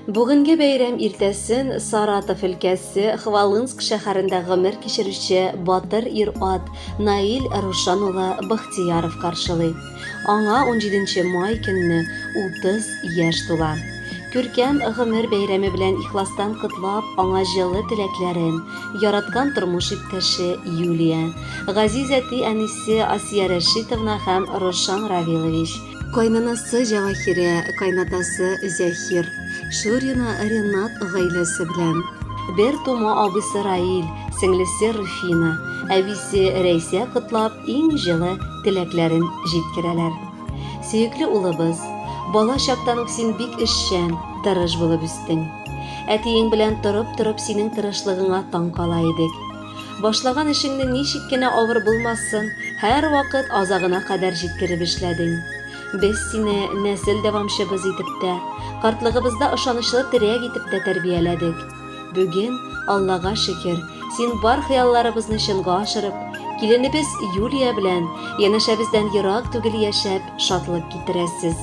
Бүгенге бәйрәм иртәсен Саратов өлкәсе Хвалынск шәһәрендә гомер кичерүче батыр ир-ат Наил Рушан улы Бахтияров каршылый. Аңа унҗиденче май көнне утыз яшь тула. Күркәм гомер бәйрәме белән ихластан котлап, аңа җылы теләкләрен яраткан тормыш иптәше Юлия, газиз әти-әнисе Асия Рәшитовна һәм Рошан Равилович, кайнанасы Җәвахирә, кайнатасы Зәхир, Шурина Ренат гаиләсе белән, бер тума абыйсы Раил, сеңлесе Руфина, әбисе Рәйсә котлап, иң җылы теләкләрен җиткерәләр. Сөекле улыбыз, бала чактан ук син бик эшчән, тырыш булып үстең. Әтиең белән торып-торып синең тырышлыгыңа таң кала идек. Башлаган эшеңне ничек кенә авыр булмасын, һәрвакыт азагына кадәр җиткереп эшләдең. Без сине нәсел дәвамчыбыз итеп тә, картлыгыбызда ышанычлы терәк итеп тә тәрбияләдек. Бүген, Аллага шөкер, син бар хыялларыбызны чынга ашырып, киленебез Юлия белән янәшәбездән ерак түгел яшәп, шатлык китерәсез.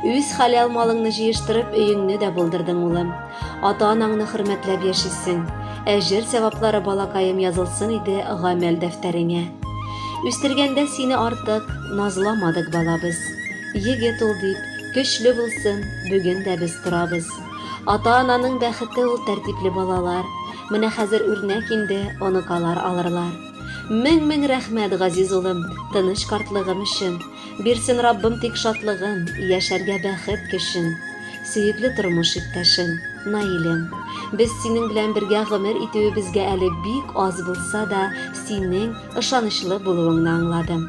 Үз хәләл малыңны җыештырып, өеңне дә булдырдың, улым. Ата-анаңны хөрмәтләп яшисең. Әҗер сәваплары балакаем язылсын иде гамәл дәфтәреңә. Үстергәндә сине артык назламадык балабыз. Егет ул дип, көчле булсын, бүген дә без торабыз. Ата-ананың бәхете ул тәртипле балалар. Менә хәзер үрнәк инде, оныкалар алырлар. Мең-мең рәхмәт, газиз улым, тыныч картлыгым өчен. Бирсен Раббым тик шатлыгын, яшәргә бәхет көчен. Сөекле тормыш иптәшем, Наилем. Без синең белән бергә гомер итүебезгә әле бик аз булса да, синең ышанычлы булуыңны аңладым.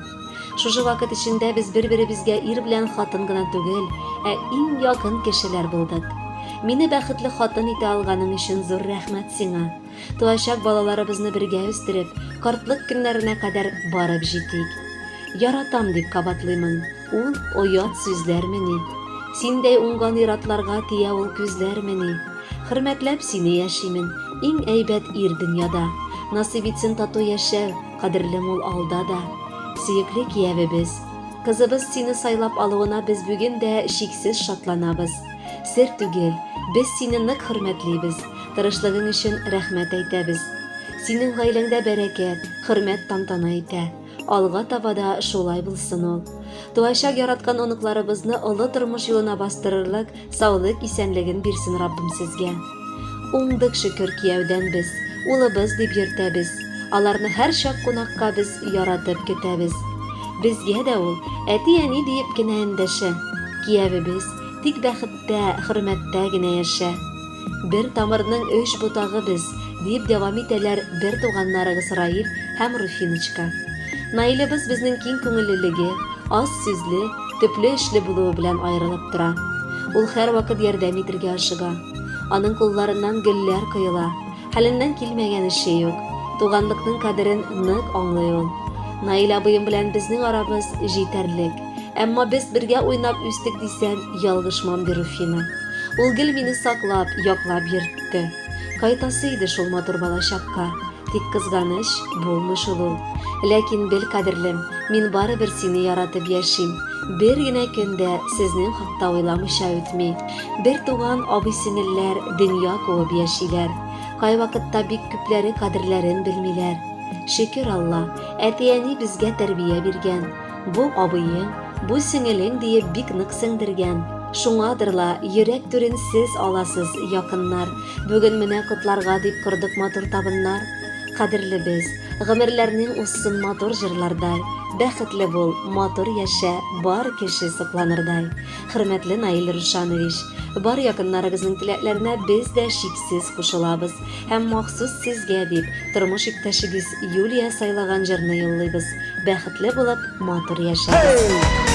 Шушы вакыт эчендә без бер-беребезгә ир белән хатын гына түгел, ә иң якын кешеләр булдык. Мине бәхетле хатын итә алганың өчен зур рәхмәт сиңа. Туачак балаларыбызны бергә үстереп, картлык көннәренә кадәр барып җитик. Яратам дип кабатлыймын. Ул оят сүзләрмени? Синдәй уңган иратларга тия ул күзләрмени? Хөрмәтләп сине яшимен, иң әйбәт ир дөньяда. Насыйп итсен тату яшәү, Кадерле мул алда да, сөекле киявебез, кызыбыз сине сайлап алуына без бүген дә чиксез шатланабыз. Сер түгел, без сине нык хөрмәтлибез, тырышлыгың өчен рәхмәт әйтәбез. Синең гаиләңдә бәрәкәт, хөрмәт тантана итә. Алга таба да шулай булсын ул. Туачак яраткан оныкларыбызны олы тормыш юлына бастырырлык Саулык исәнлеген бирсен Раббым сезгә. Уңдык шөкер кияүдән без, улыбыз дип йөртәбез. Аларны һәрчак кунакка без яратып көтәбез. Безгә дә ул әти-әни диеп кенә эндәшә. Киявебез тик бәхеттә, хөрмәттә генә яшә. Бер тамырның өч ботагы без, дип дәвам итәләр бер туганнарыгыз Раиль һәм Руфиночка. Наилебыз безнең киң күңеллелеге, аз сүзле, төпле эшле булуы белән аерылып тора. Ул һәрвакыт ярдәм итергә ашыга. Аның кулларыннан гөлләр коела. Хәленнән килмәгән эше юк. Туганлыкның кадерен нык аңлый ул. Наил абыем белән безнең арабыз җитәрлек. Әмма без бергә уйнап үстек дисәм, ялгышмам, ди Руфина. Ул гел мине саклап, яклап йөртте. Кайтасы иде шул матур балачакка, тик кызганыч, булмый шул ул. Ләкин бел, кадерлем, мин барыбер сине яратып яшим. Бер генә көн дә сезнең хакта уйламыйча үтми. Бер туган абый-сеңелләр дөнья куып яшиләр. Кайвакытта бик күпләре кадерләрен белмиләр. Шөкер Алла, әти-әни безгә тәрбия биргән. Бу абыең, бу сеңелең диеп бик нык сеңдергән. Шуңадыр ла, йөрәк түрен сез аласыз, якыннар. Бүген менә котларга дип кордык матур табыннар. Кадерлебез, гомерләрнең узсын матур җырлардай. Бәхетле бул, матур яшә, бар кеше сокланырдай. Хөрмәтле Наил Рушанович, бар якыннарыгызның теләкләренә без дә чиксез кушылабыз һәм махсус сезгә дип тормыш иптәшегез Юлия сайлаган җырны юллыйбыз. Бәхетле булып, матур яшәгез.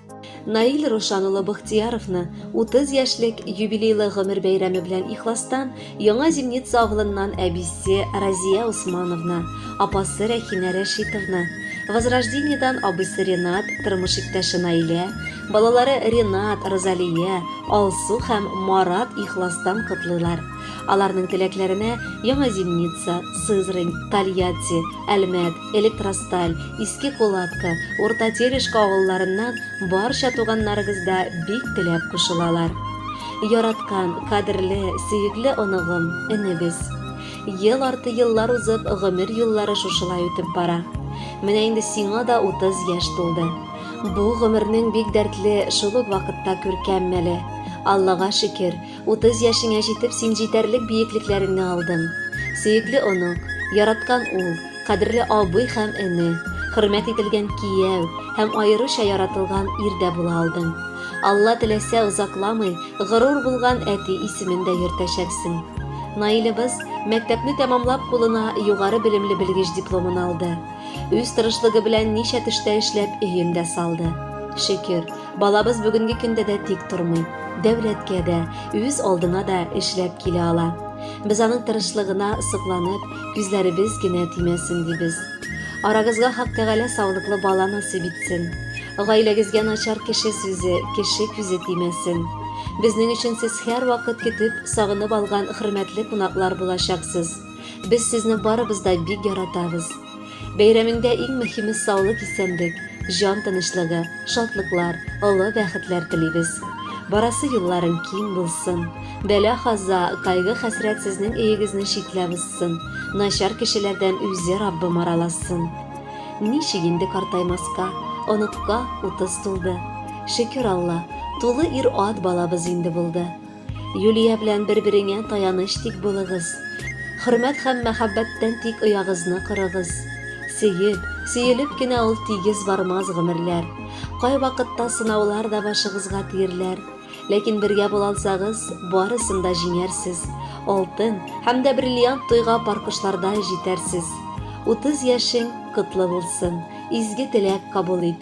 Наил Рушан улы Быхтияровны 30 яшьлек юбилейлы гомер бәйрәме белән ихластан Яңа Зимница авылыннан әбисе Разия Усмановна, апасы Рәхинә Рәшитовна, Возрождениедан абыйсы Ренат, тормыш иптәше Наилә, балалары Ренат, Розалия, Алсу һәм Марат ихластан котлыйлар. Аларның теләкләренә Яңа Зимница, Сызрань, Тольятти, Әлмәт, Электросталь, Иске Кулатка, Урта Терешка авылларыннан барча туганнарыгыз да бик теләп кушылалар. Яраткан, кадерле, сөекле оныгым, энебез. Ел арты еллар узып, гомер юллары шушылай үтеп бара. Менә инде сиңа да 30 яшь тулды. Бу гомернең бик дәртле, шул ук вакытта күркәм мәле. Аллага шөкер, Утыз яшеңә җитеп син җитәрлек биеклекләреңне алдың. Сөекле онык, яраткан ул, кадерле абый һәм эне, хөрмәт ителгән кияү һәм аеруча яратылган ир дә була алдың. Алла теләсә, озакламый горур булган әти исемен дә йөртәчәксең. Наилебыз мәктәпне тәмамлап кулына югары белемле белгеч дипломын алды. Үз тырышлыгы белән ничә төштә эшләп өен дә салды. Шөкер, Балабыз бүгенге көндә дә тик тормый, дәүләткә дә, үз алдына да эшләп килә ала. Без аның тырышлыгына сокланып, күзләребез генә тимәсен дибез. Арагызга Хак Тәгалә саулыклы бала насыйп итсен. Гаиләгезгә начар кеше сүзе, кеше күзе тимәсен. Безнең өчен сез һәрвакыт көтеп, сагынып алган хөрмәтле кунаклар булачаксыз. Без сезне барыбыз да бик яратабыз. Бәйрәмеңдә иң мөһиме саулык исәнлек, җан тынычлыгы, шатлыклар, олы бәхетләр телибез. Барасы юлларың киң булсын. Бәла хаза, кайгы хәсрәт сезнең өегезне читләп узсын. Начар кешеләрдән үзе Раббым араласын. Ничек инде картаймаска, оныкка утыз тулды. Шөкер Алла, тулы ир-ат балабыз инде булды. Юлия белән бер-береңә таяныч тик булыгыз. Хөрмәт һәм мәхәббәттән тик оягызны корыгыз. Сөеп, сөелеп кенә ул тигез бармас гомерләр. Кайвакытта сынаулар да башыгызга тиерләр. Ләкин бергә була алсагыз, барысын да җиңәрсез. Алтын һәм дә бриллиант туйга паркушлардай җитәрсез. Утыз яшең котлы булсын, изге теләк кабул ит.